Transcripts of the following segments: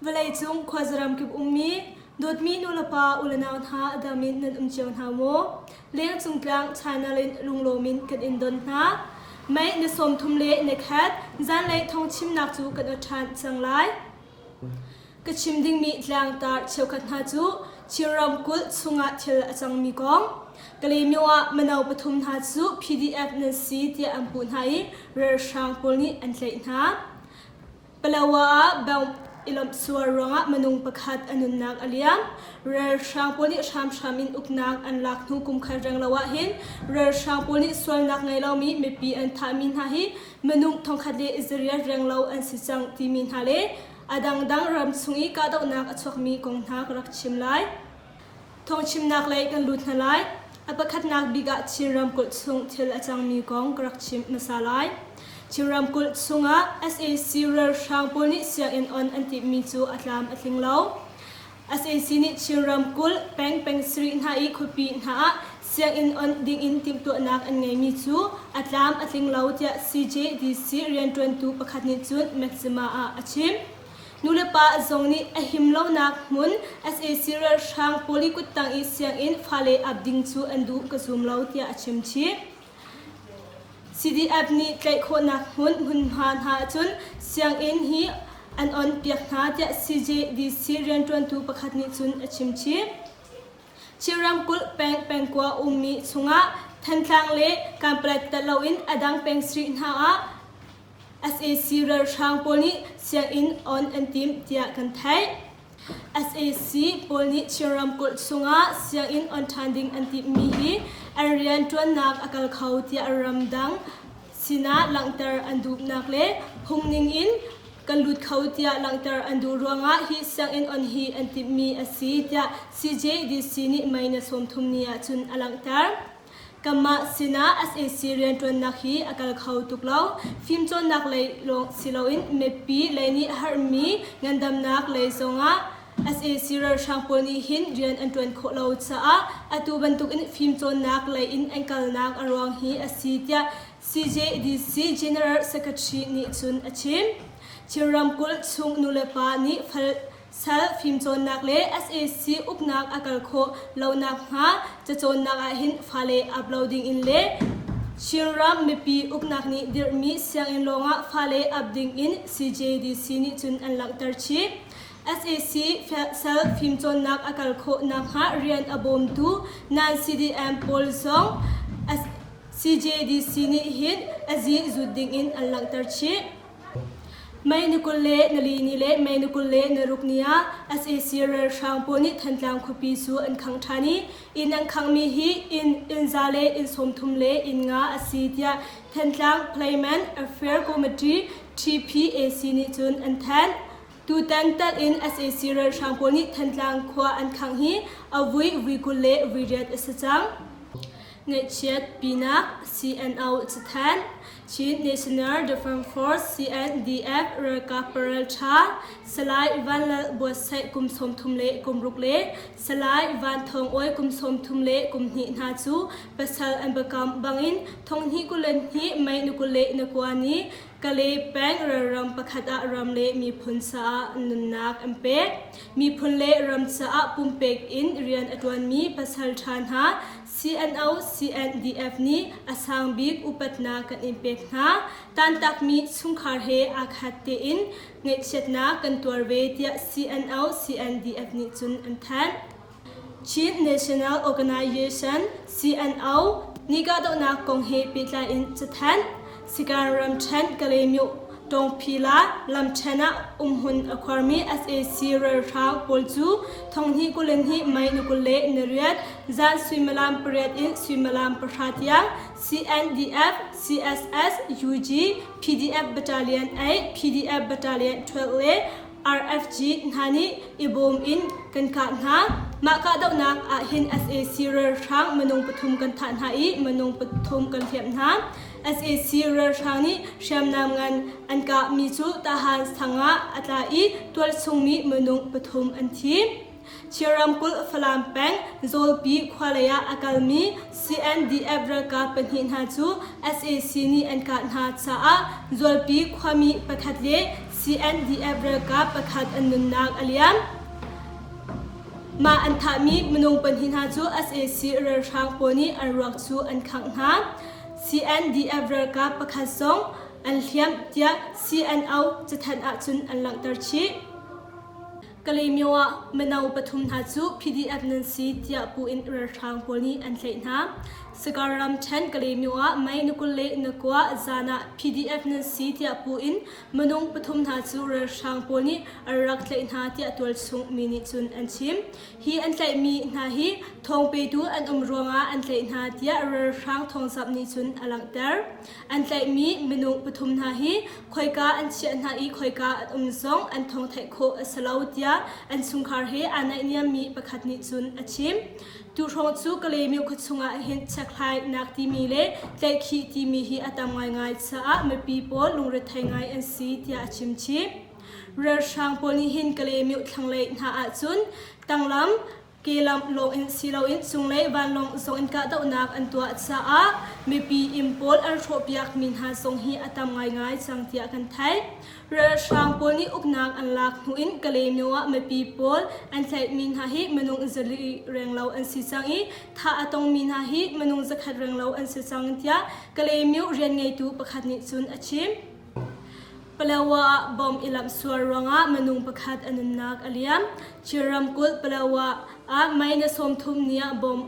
Vawleicung khuazaram kip ummi dawtmi nulepa ulenau hna dam in nan um cio hna maw? Lengcung tlang China in lunglawm in kan in don hna. Mei na sawm thum le na khat zanlei thong chimnak cu kan o ṭhan cang lai. Ka chim dingmi tlangtar cheukhat hna cu Chin ramkulh chungah thil a cangmi kong Kalemyo ah mino pathum hna cu PDF nan si tiah an puh hna i ralhrang pawl nih an tlaih hna. Palawa ah bang ilawmh sual ruangah minung pakhat a nunnak a liam. Ralhrang pawl nih hramhram in uknak an lak hnu kum khat reng lo ahhin ralhrang pawl nih sualnak ngei lomi mipi an thahmi hna hi minung thongkhat le i zariat reng lo an si cang timi hna le a dangdang ram chung i kahdohnak a chuakmi kong hna ka rak chim lai. Thawngchimnak lei kan lut hna lai. A pakhatnak bik ah Chin ramkulh chung thil a cangmi kong ka rak chim hmasa lai. Chin ramkulh chungah sac ralhrang pawl nih sianginn on an timhmi cu a tlam a tling lo. Asac nih Chin ramkulh pengpeng sarih hna i khuapi hna ah sianginn onh dingin timhtuahnak an ngeimi cu a tlam a tling lo tiah CJDC rianṭuantu pakhat nih cun Maxima ah a chim. Nulepa zong nih a him lonak hmun sac ralhrang pawl i kuttang i sianginn fale ap ding cu an duh ka zum lo tiah a chimchih. CDF nih tlaih khawhnak hmun hmunhma hna ahcun sianginn hi an onpiak hna tiah CJDC rianṭuantu pakhat nih cun a chimchih. Chin ramkulh peng pengkua ummi chungah Thantlang le Kanpalet telh loin a dang pengshri hna ah sac ralhrang pawl nih sianginn on an tim tiah kan theih. sac pawl nih Chin ramkulh chungah sianginn on ṭhan ding an timhmi hi an rianṭuannak a kal kho tiah ramdang sinah langhter an duhnak le phungning in kan lut kho tiah langhter an duh ruangah hi sianginn on hi an timhmi a si tiah CJDC nih mei na sawm thum ni ahcun a langhter. Kanmah sinah SAC rianṭuannak hi a kal kho tuk lo. Fimcawnnak lei lawng si loin mipi lei nih a herhmi ngandamnak lei zongah SAC ralhrang pawl nih hin rian an ṭuan khawh lo caah atu bantukin fimcawnnak lei in an kalnak a ruang hi a si tiah CJDC General Secretary nih cun a chim. Chin ramkulh chung nulepa nih fal Sal fimcawnnak le sac uknak a kal khawh lo nakhnga cacawnnak ahhin fale ap lo dingin le Chinram mipi uknak nih dirhmi sianginn lawngah fale ap dingin CJDC nih cun an langhter chih. sac sal fimcawnnak a kal khawh nakhnga rian a bawmtu non-CDM pawl zong CJDC nih hin a zi zut dingin an langhter chih. Mei ni kul le nali ni le May ni kul le naruk ni ah sac ralhrang pawl nih Thantlang khuapi cu an khang ṭhan i inn an khanghmi hi inn innza le inn sawmthum le inn nga a si tiah Thantlang Playman Affair Committee TPAC nih cun an thanh. Tutan talh in sac ralhrang pawl nih Thantlang khua an khangh hi a vui vui kul le vui riat a si cang. Ngaihchiat pinak CNO cathanh Chin National Defence Force CNDF ralkap paraltha Salai Van Lal Buatsaih kum sawm thum le kum ruk le Salai Van Thawng Oi kum sawm thum le kum hnih hna cu pasal an bakam bangin thonghni kulen hi mei na kule na kuani Kale peng ralram pakhat ah ram le miphun caah nunnak an pek miphun le ram caah pumpek in rian a tuanmi pasal tha hna CNO CNDF nih a sangbik upatnak kan in pek hna. Tantakmi chungkhar he aa khat tein ngaihchiatnak kan tuar ve tiah CNO CNDF nih cun an thanh. Chin National Organization CNO nih kahdohnak kong he pehtlai in cathan Sikan ram ṭhen Kalaymyo Tawngphi Lat lam ṭhen ah umhun a khuarmi sac ralhrang pawl cu thonghnih kul in hnih mei ni kul le ni riat zan suimilam pariat in suimilam pahra tiang CNDF, CSS, UG, PDF Battalion 8, PDF Battalion 12 le RFG hna nih i bawm in kan kah hna. Mah kahdohnak ahhin sac ralhrang minung pathum kan thah hna i minung pathum kan hliamh hna. sac ralhrang nih hriamnam ngan an kahmi cu Tahan sang ah a tla i tualsungmi minung pathum an thi. Chin ramkulh Falam peng Zawlpi khua lei ah a kalmi CNDF ralkap pahnih hna cu sac nih an kah hna caah Zawlpi khuami pakhat le CNDF ralkap pakhat an nunnak a liam. Mah an thahmi minung pahnih hna cu sac ralhrang pawl nih an ruak cu an khangh hna. CNDF ralkap pakhat zong an hliamh tiah CNO cathanh ahcun an langhter chih. Kalaymyo ah mino pathum hna cu PDF nan si tiah pu in ralhrang pawl nih an tlaih hna. Sakar ramṭhen Kalaymyo ah May ni kul le nakua zan ah PDF nan si tiah pu in minung pathum hna cu ralhrang pawl nih an rak tlaih hna tiah tualchung mi nih cun an chim. Hi an tlaihmi hna hi thawng petu an um ruangah an tlaih hna tiah ralhrang thawngzamh nih cun a langhter. An tlaihmi minung pathum hna hi khoika an chiah hna i khoika an um zong an thong theih khawh a si lo tiah an chungkhar he aa naihniammi pakhat nih cun a chim. Tu hrawng cu Kalaymyo khuachung ah hin chiakhlainak timi le tlaihkhih timi hi a tam ngaingai caah mipi pawl lungrethei ngai an si tiah a chim chih. Ralhrang pawl nih hin Kalaymyo thlanglei hna ahcun tanglam kelamh lawng in si loin cunglei vanlawng zong in kahdohnak an tuah caah mipi inn pawl an hrawhpiakmi hna zong hi a tam ngaingai cang tiah kan theih. Ralhrang pawl nih uknak an lak hnu in Kalaymyo ah mipi pawl an tlaihmi hna hi minung zali renglo an si cang i thah a tongmi hna hi minung zakhat renglo an si cang tiah Kalaymyo rian ngeitu pakhat nih cun a chim. Palawa ah bom i lamh sual ruangah minung pakhat a nunnak a liam. Chin ramkulh Palawa ah May ni sawmthum ni ah bom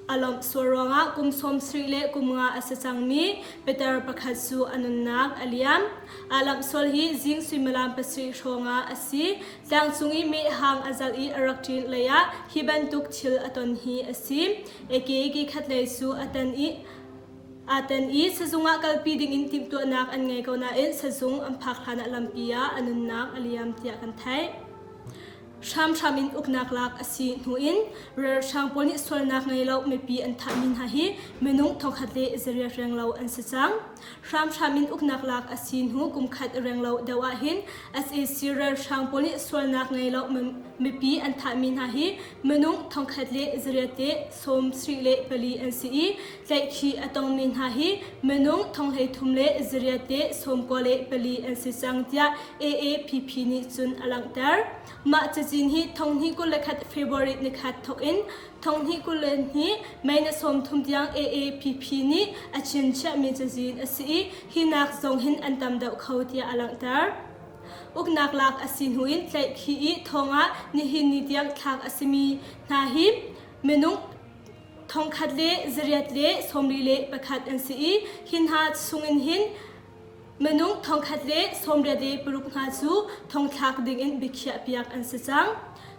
a lawmh sual ruangah kum sawmsarih le kum nga a si cangmi pitar pakhat cu a nunnak a liam. Aa lamh sual hi zing suimilam pasarih hrawngah a si. Tlangcung i mehhang a zalh i a rak ṭin hlei ah hi bantuk thil a ton hi a si. Eke ki khatlei cu a tan i Aa tel i sizung ah kalpi dingin timhtuahnak an ngei ko nain sizung an phak hlanah lampi ah a nunnak a liam tiah kan theih. Hramhram in uknak lak a si hnu in ralhrang pawl nih sualnak ngei lo mipi an thahmi hna hi minung thongkhat le zariah reng lo an si cang. Hramhram in uknak lak a si hnu kumkhat reng lo deuh ahhin sac ralhrang pawl nih sualnak ngei lo mipi an thahmi hna hi minung thongkhat le zariate sawm sri le pali an si i tlaihkhih a tongmi hna hi minung thonghlei thum le zariate sawmkua le pali an si cang tiah AAPP nih cun a langhter. Mah cazin hi thonghni kul le khat February ni khat thok in thonghni kul le ni mei ni sawm thum tiang AAPP nih a chim chiahmi cazin a si i hi nak zong hin an tam deuh kho tiah a langhter. Uknak lak a si hnu in tlaihkhih i thongah nihin ni tiang thlak a simi hna hi Minung thongkhat le zariat le sawmli le pakhat an si i hi hna chungin hin minung thongkhat le sawmriat le paruk hna cu thongthlak dingin biakhiahpiak an si cang.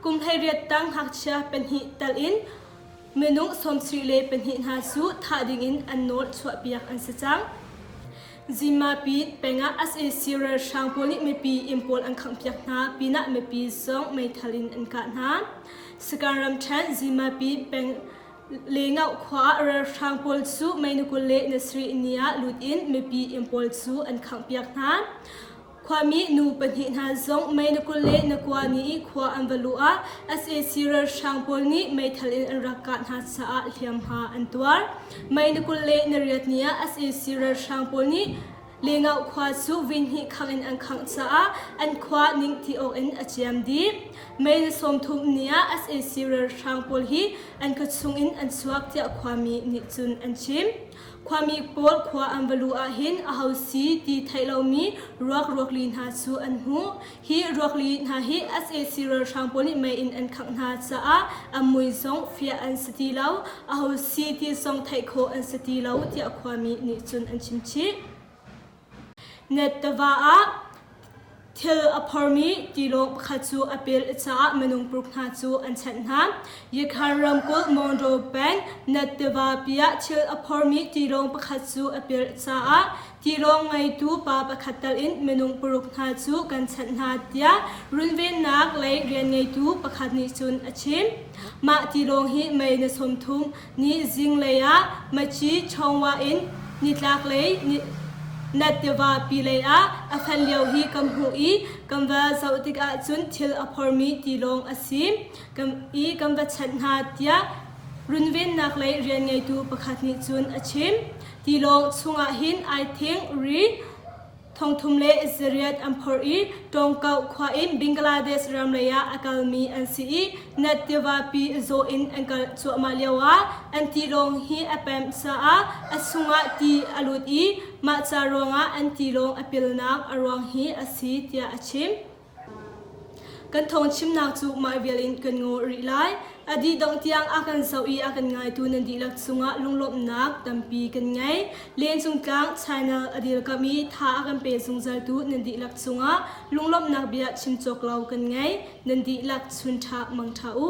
Kum hleiriat tang ngakchia pahnih tal in minung sawmsarih le pahnih hna cu thah dingin an nawl chuahpiak an si cang. Zimapit pengah sac ralhrang pawl nih mipi inn pawl an khanghpiak hna pinah mipi zong meithal in an kah hna. Sakang ramṭhen Zimapit peng Lengau khua ah ralhrang pawl cu mei ni kul le ni sarih ni ah lut in mipi inn pawl cu an khanghpiak hna. Khuami nu pahnih hna zong mei na kul le na kua ni i khua an va luh ah sac ralhrang pawl nih meithal in an rak kah hna caah hliamhma an tuar. Mei na kul le na riat ni ah sac ralhrang pawl nih Lengau khua cu vinhnih khangh in an khangh caah an khua ning ti awk in a ciam dih. Mei na sawm thum ni ah sac ralhrang pawl hi an ka chung in an chuak tiah khuami nih cun an chim. Khuami pawl khua an va luh ahhin aho si ti theih lomi ruak ruakli hna cu an hmuh. Hi ruakli hna hi sac ralhrang pawl nih mei in an khangh hna caah a mui zong fiah an si ti lo. Aho si ti zong theih khawh an si ti lo tiah khuami nih cun an chimchih. Net tiva ah thil a phormi tilawng pakhat cu a pel i caah minung paruk hna cu an chanh hna. Yakhan ramkulh Monroe peng Net tivapi ah thil a phormi tilawng pakhat cu a pel i caah tilawng ngeitu pa pakhat tal in minung paruk hna cu kan chanh hna tiah runvennak lei rian ngeitu pakhat nih cun a chim. Mah tilawng hi May ni sawmthum Ni zinglei ah Maci Chawngwa in nitlaklei Nat tiva pilei ah a hlan lio hi kan hmuh i kan va zoh tikah cun thil a phormi tilawng a si i kan va chanh hna tiah runvennak lei rian ngeitu pakhat nih cun a chim. Tilawng chungah hin ai thing ri Thongthum le Israel an phor i Ṭawngkauh khua in Bangladesh ram leiah a kalmi an si i Nat tivapi zaw in an kal cuahmah lioah an tilawng hi a pemh caah a chungah ti a lut i mah ca ruangah an tilawng a pilnak a ruang hi a si tiah a chim. Kan thawngchimnak cu mah vial in kan ngawh rih lai. A dih dongh tiang a kan zoh i a kan ngaitu nan dihlak cungah lunglawmhnak tampi kan ngei. Lehcung tlang China a dilkam i tha a kan pe zungzaltu nan dihlak cungah lunglawmhnak bia chim cawk lo kan ngei. Nan dihlak chun ṭhak mang ṭha u.